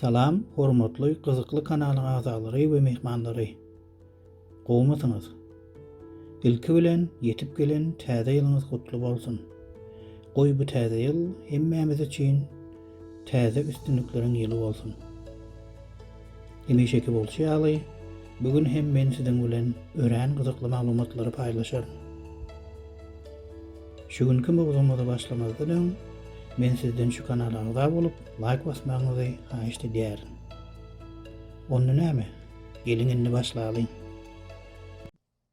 Salam hormatly gyzykly kanalyň agzalary we mehmanlary. Gowmysyňyz? Ilki bilen ýetip gelen täze ýylyňyz gutly bolsun. Goý bu täze ýyl hemmämiz üçin täze üstünlikleriň ýyly bolsun! Hemişeki bolşy ýaly, bu gün hem men siziň bilen örän gyzykly maglumatlary paýlaşaryn. Şu günki mowzugymyza başlamazdan öň, men sizden şu kanala agza bolup, laýk basmagyňyzy haýyşt edýärin. Onda näme, geliň indi başlalyň!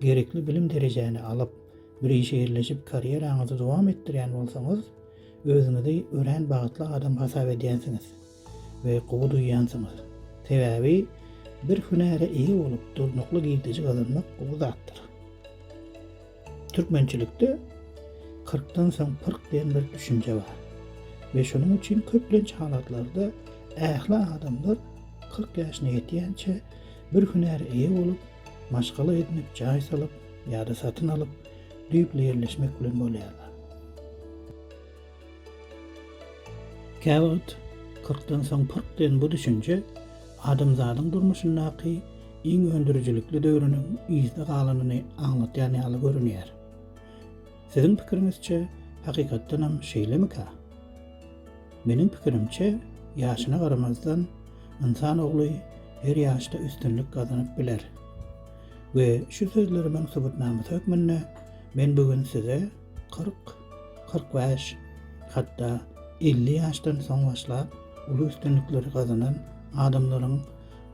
Gerekli bilim derejäni alyp, bir işe ýerleşip karýeraňyzy dowam etdirýän bolsaňyz, özüňizi örän bagtly adam hasap edýänsiňiz we gowy duýýansyňyz. Sebäbi bir hünäre eýe bolup, durnukly girdeji gazanmak gowy zatdyr. Türkmençilikde Kyrkdan soň pyrk diýen bir düşünje bar we şonuň üçin köplenç halatlarda ähli adamlar kyrk ýaşyna ýetýänçä bir hünäre eýe bolup, maşgala edinip jaý salyp ýa-da satyn alyp düýpli ýerleşmek bilen bolýarlar. Käwagt kyrkdan soň pyrk diýen bu düşünje adamzadyň durmuşyndaky iň öndürijilikli döwrüniň yzda galanyny aňlatýan ýaly görünýär. Siziň pikiriňizçe, hakykatdanam şeýlemikä? Meniň pikirimçe, ýaşyna garamazdan, ynsan ogly her ýaşda üstünlik gazanyp biler. We şu sözlerimiň subutnamasy hökmünde men bu gün size kyrk, kyrk bäş, hatda elli ýaşdan soň başlap uly üstünlikleri gazanan adamlaryň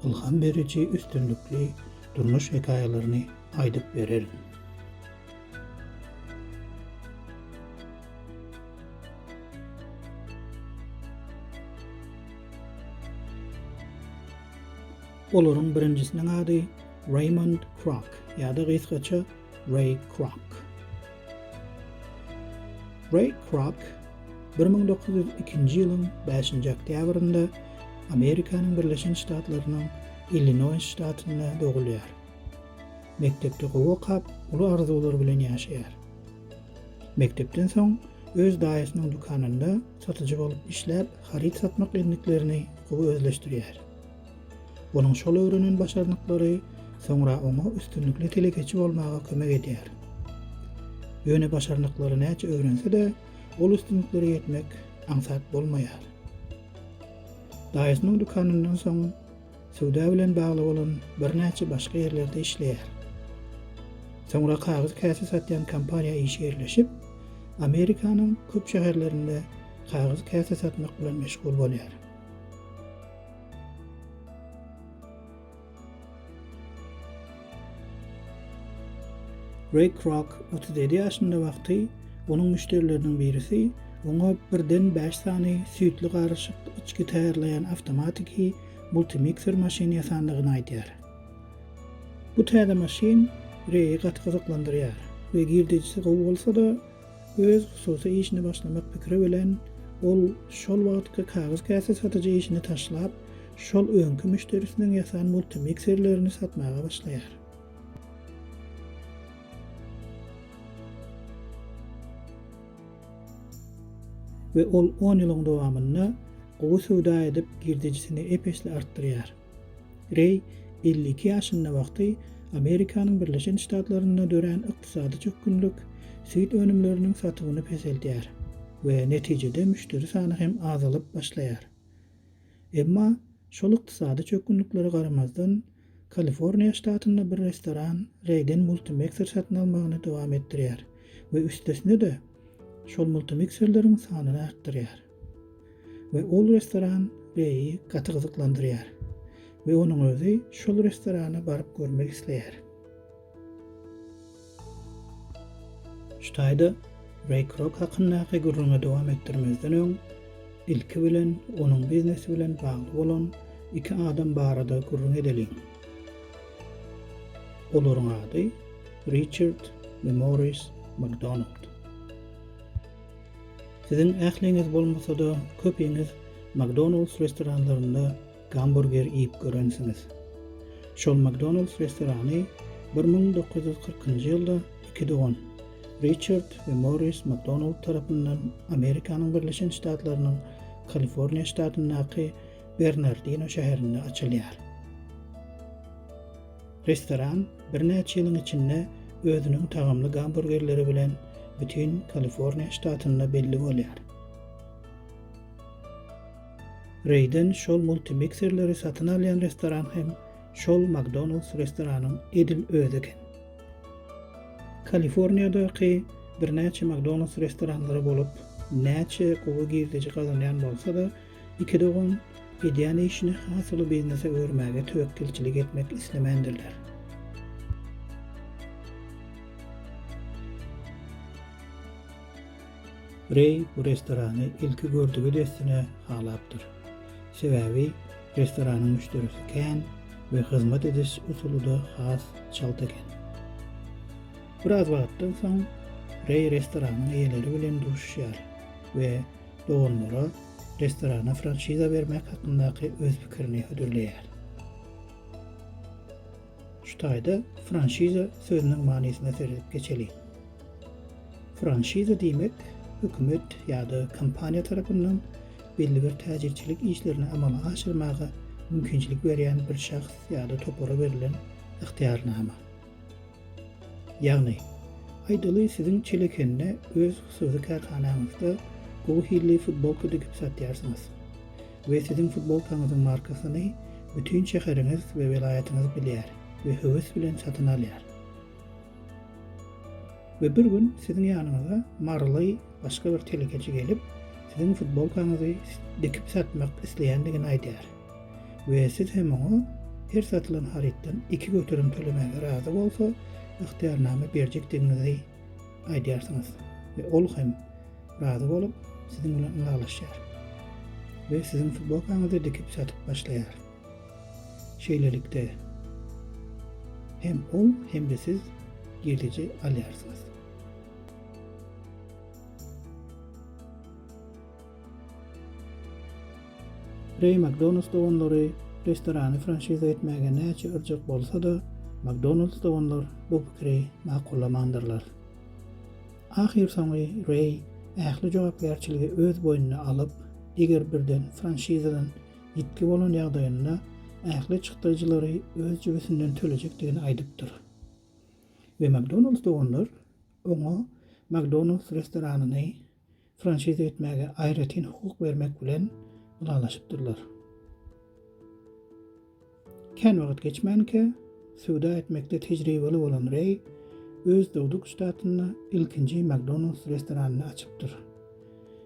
ylham beriji üstünlikli durmuş hekaýalaryny aýdyp bererin. Olaryň birinjisiniň ady Raymond Kroc, ýa-da gysgaça Ray Kroc. Ray Kroc 1902-nji ýylyň 5-nji oktýabrynda Amerikanyň Birleşen Ştatlarynyň Illinoýs ştatynda dogulýar. Mekdepde gowy okap, uly arzuwlar bilen ýaşaýar. Mekdepden soň öz daýysynyň dükanynda satyjy bolup işläp, haryt satmak endiklerini gowy özleşdirýär. Onuň şol öwrenen başarnyklary soňra oňa üstünlikli telekeçi bolmaga kömek edýär. Ýöne başarnyklary näçe öwrense-de, ol üstünliklere ýetmek aňsat bolmaýar. Daýysynyň dükanyndan soň Söwda bilen bagly bolan birnäçe başga ýerlerde işleýär. Soňra kagyz käse satýan kompaniýa işe ýerleşip, Amerikanyň köp şäherlerinde kagyz käse satmak bilen meşgul bolýar. Ray Kroc otuz ýedi ýaşynda wagty onuň müşderileriniň birisi oňa birden bäş sany süýtli garyşyk içgi taýýarlaýan awtomatiki multimikser maşyny ýasandygyny aýdýar. Bu täze maşyn Reýi gaty gyzyklandyrýar we girdejisi gowy bolsa-da, Öz hususy işini başlamak pikiri bilen ol şol wagtky kagyz käse satyjy işini taşlap, şol öňki müşderisiniň ýasan multimikserlerini satmaga başlaýar. We ol on ýylyň dowamynda gowy söwda edip, girdejisini ep-esli artdyrýar. Reý elli iki ýaşynda wagty Amerikanyň Birleşen Ştatlarynda dörän ykdysady çökgünlik süýt önümleriniň satywyny peseldýär we netijede müşderi sany hem azalyp başlaýar. Emma şol ykdysady çökgünliklere garamazdan, Kaliforniýa ştatynda bir restoran Reýden multimekser satyn almagyny dowam etdirýär we üstesine-de şol multimikserleriň sanyny artdyrýar. We ol restoran Reýi gaty gyzyklandyrýar we onuň özi şol restorana baryp görmek isleýär. Şu taýda Reý Krok hakyndaky gürrüňi dowam etdirmezden öň, ilki bilen onuň biznesi bilen bagly bolan iki adam barada gürrüň edeliň. Olaryň ady Riçard we Morris Makdonald. Siziň ähliňiz bolmasa-da, köpiňiz McDonald's restoranlarynda gamburger iýip görensiňiz. Şol McDonald's restorany bir müň dokuz ýüz kyrkynjy ýylda iki dogan, Riçard we Morris McDonald tarapyndan Amerikanyň Birleşen Ştatlarynyň Kaliforniýa ştatyndaky Bernardino şäherinde açylýar. Restoran birnäçe ýylyň içinde özüniň tagamly gamburgerleri bilen bütin Kaliforniýa ştatynda belli bolýar. Reýden şol multimikserleri satyn alýan restoran hem şol McDonald's restoranyň edil özi eken. Kaliforniýadaky birnäçe McDonald's restoranlary bolup, näçe gowy girdeji gazanýan bolsa-da, Iki dogan edýän işini has uly biznese öwürmäge töwekgelçilik etmek islemändirler. Reý bu restorany ilki gördügi dessine halapdyr. Sebäbi restoranyň müşderisi kän we hyzmat ediş usuly-da has çalt eken. Biraz wagtdan soň Reý restoranyň eýeleri bilen duşuşýar we doganlara restorana franşiza bermek hakyndaky öz pikirini hödürleýär. Şu taýda franşiza sözüniň manysyna seredip geçeliň. Franşiza diýmek hökümet ýa-da kompaniýa tarapyndan belli bir täjirçilik işlerini amala aşyrmaga mümkinçilik berýän bir şahs ýa-da topara berlen ygtyýarnama. Ýagny, aýdaly siziň Çelekende öz hususy kärhanaňyzda gowy hilli futbolka dikip satýarsyňyz we siziň futbolkaňyzyň markasyny bütin şäheriňiz we welaýatyňyz bilýär we höwes bilen satyn alýar. We bir gün siziň ýanyňyza maryly başga bir telekeçi gelip, siziň futbolkaňyzy dikip satmak isleýändigini aýdýar. we siz hem oňa her satylan harytdan iki göterim tölemäge razy bolsa, ygtyýarnama berjekdigiňizi aýdýarsyňyz we ol hem razy bolup, siziň bilen ylalaşýar we siziň futbolkaňyzy dikip satyp başlaýar. Şeýlelikde, hem ol, hem-de siz girdejy alýarsyňyz. Reý McDonalds doganlary restorany franşiza etmäge näçe yrjak bolsa-da, McDonalds doganlar bu pikiri makullamandyrlar. Ahyrsoňy Reý ähli jogapkärçiligi öz boýnuna alyp, eger birden franşizadan ýitgi bolan ýagdaýynda ähli çykdajylary öz jübüsinden tölejekdigini aýdypdyr. We McDonalds doganlar oňa McDonalds restoranyny franşiza etmäge aýratyn hukuk bermek bilen ylalaşypdyrlar. Kän wagt geçmänkä, söwda etmekde tejribeli bolan Reý öz dogduk ştatynda ilkinji McDonald's restoranyny açypdyr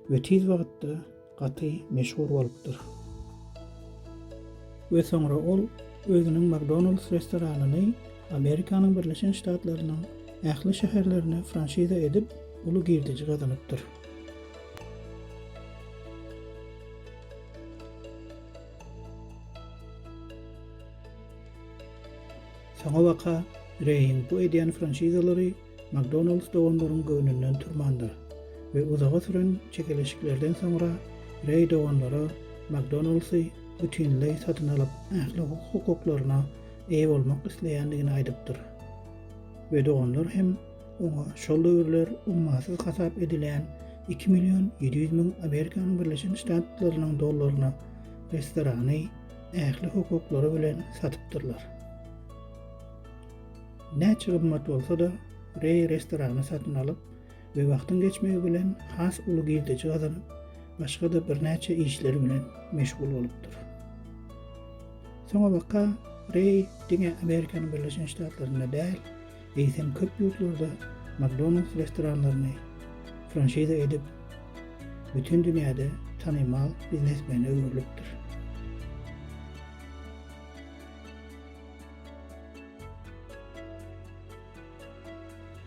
we tiz wagtda gaty meşhur bolupdyr. We soňra ol özüniň McDonald's restoranyny Amerikanyň Birleşen Ştatlarynyň ähli şäherlerine franşiza edip, uly girdeji gazanypdyr. Soňabaka Reýiň bu edýän franşizalary Makdonalds doganlaryň göwnünden turmandyr we uzaga süren çekeleşiklerden soňra Reý doganlara Makdonaldsy bütinleý satyn alyp, ähli hukuklaryna eýe bolmak isleýändigini aýdypdyr we doganlar hem oňa şol döwürler ummasyz hasap edilýän iki million ýedi ýüz müň Amerikanyň Birleşen Ştatlarynyň dollaryna restorany ähli hukuklary bilen satypdyrlar. Näçe gymmat bolsa-da, Reý restorany satyn alyp, wagtyň geçmegi bilen has uly girdeji gazanyp, başga-da birnäçe işler bilen meşgul bolupdyr. Soňabaka Reý diňe Amerikanyň Birleşen Ştatlarynda däl, eýsem köp ýurtlarda McDonald's restoranlaryny franşiza edip, bütin dünýäde tanymal biznesmene öwrülipdir.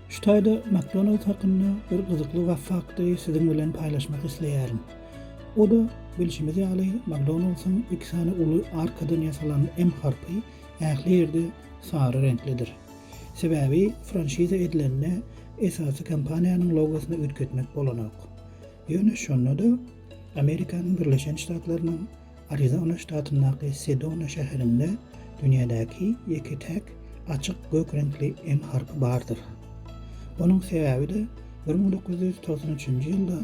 Şu taýda McDonald's hakynda bir gyzykly fakty siziň bilen paýlaşmak isleýärin. O-da, bilşimiz ýaly, McDonald's-yň iki sany uly arkadan ýasalan M harpy ähli ýerde sary reňklidir. Sebäbi franşiza edilende esasy kompaniýanyň logosyny üýtgetmek bolanok. Ýöne şonda-da Amerikanyň Birleşen Ştatlarynyň Arizona ştatyndaky Sedona şäherinde dünýädäki ýeke-täk açyk gök reňkli M harpy bardyr. Onuň sebäbi-de bir müň dokuz ýüz togsan üçünji ýylda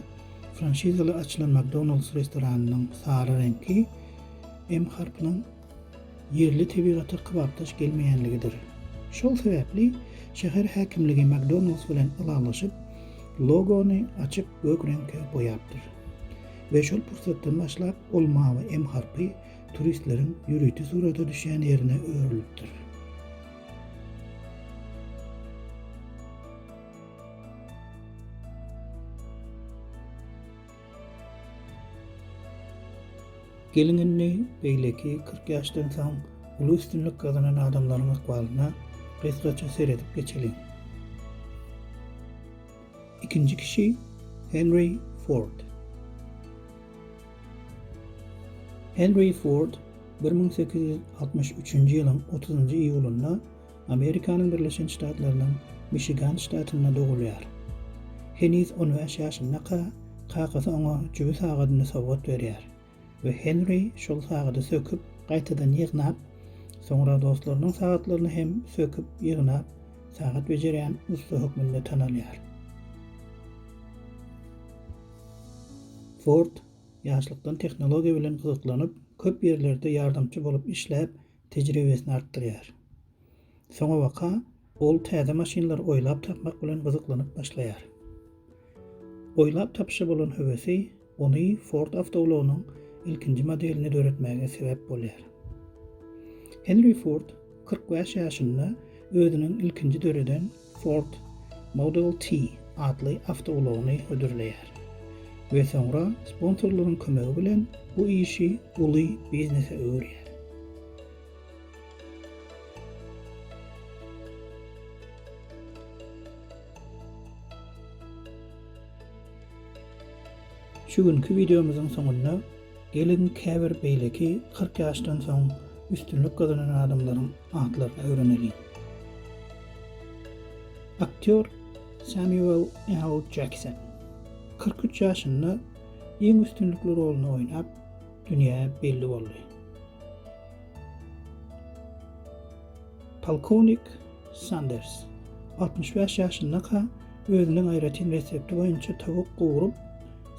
franşizaly açylan McDonald's restoranynyň sary reňki M harpynyň ýerli tebigata kybapdaş gelmeýänligidir. Şol sebäpli şäher häkimligi McDonald's bilen ylalaşyp, logony açyk gök reňke boýapdyr. we şol pursatdan başlap ol mawy M harpy turistleriň ýörite surata düşýän ýerine öwrülipdir. Geliň indi beýleki kyrk ýaşdan soň uly üstünlik gazanan adamlaryň ykbalyna gysgaça seredip geçeliň. Ikinji kişi, Henry Ford. Henry Ford bir müň sekiz ýüz altmyş üçünji ýylyň otuzynjy iýulynda Amerikanyň Birleşen Ştatlarynyň Mişigan ştatynda dogulýar. Heniz on bäş ýaşyndaka kakasy oňa jübi sagadyny sowgat berýär. we Henri şol sagady söküp, gaýtadan ýygnap, soňra dostlarynyň sagatlaryny hem söküp, ýygnap, sagat bejerýän ussa hökmünde tanalýar. Ford ýaşlykdan tehnologiýa bilen gyzyklanyp, köp ýerlerde ýardamçy bolup işläp, tejribesini artdyrýar. Soňabaka ol täze maşynlary oýlap tapmak bilen gyzyklanyp başlaýar. Oýlap tapyşa bolan höwesi ony Ford awtoulagynyň ilkinji modelini döretmäge sebäp bolýar. Henri Ford kyrk bäş ýaşynda özüniň ilkinji döreden Ford Model T atly awtoulagyny hödürleýär we soňra sponsorlaryň kömegi bilen bu işi uly biznese öwürýär. Şu günki wideomyzyň soňunda Geliň, käbir beýleki kyrk ýaşdan soň üstünlik gazanan adamlaryň atlaryny öwreneliň. Aktýor Samuel L. Jackson kyrk üç ýaşynda iň üstünlikli roluny oýnap, dünýä belli boldy. Polkownik Sanders altmyş bäş ýaşyndaka özüniň aýratyn resepti boýunça towuk gowrup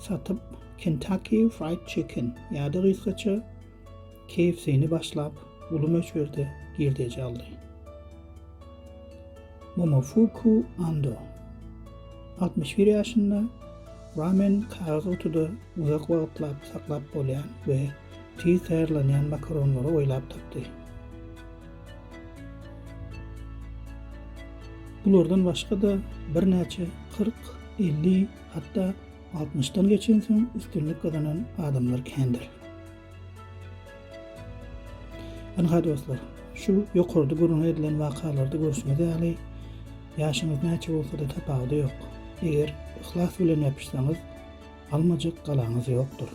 satyp, Kentucky Fried Chicken ýa-da gysgaça KFC-ni başlap, uly möçberde girdeji aldy. Momofuku Ando, altmyş bir ýaşynda, ramen kagyz gutuda uzak wagtlap saklap bolýan we tiz taýýarlanýan makaronlary oýlap tapdy. Bulardan başga-da birnäçe kyrk, elli, hatda Altmyşdan geçensoň üstünlik gazanan adamlar kändir. Ynha dostlar, şu ýokarda gürrüňi edilen wakalarda görşüňiz ýaly, ýaşyňyz näçe bolsa-da tapawudy ýok. Eger yhlas bilen ýapyşsaňyz, almajak galaňyz ýokdur.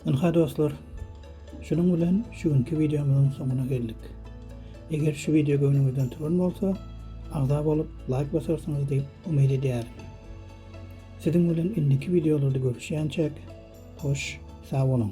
Ynha dostlar, şunuň bilen şu günki wideomyzyň soňuna geldik. Eger şu wideo göwnüňizden turan bolsa, agza bolup, laýk basarsyňyz diýip umyt edýärin. Siziň bilen indiki wideolarda görüşýänçäk, hoş, sag boluň!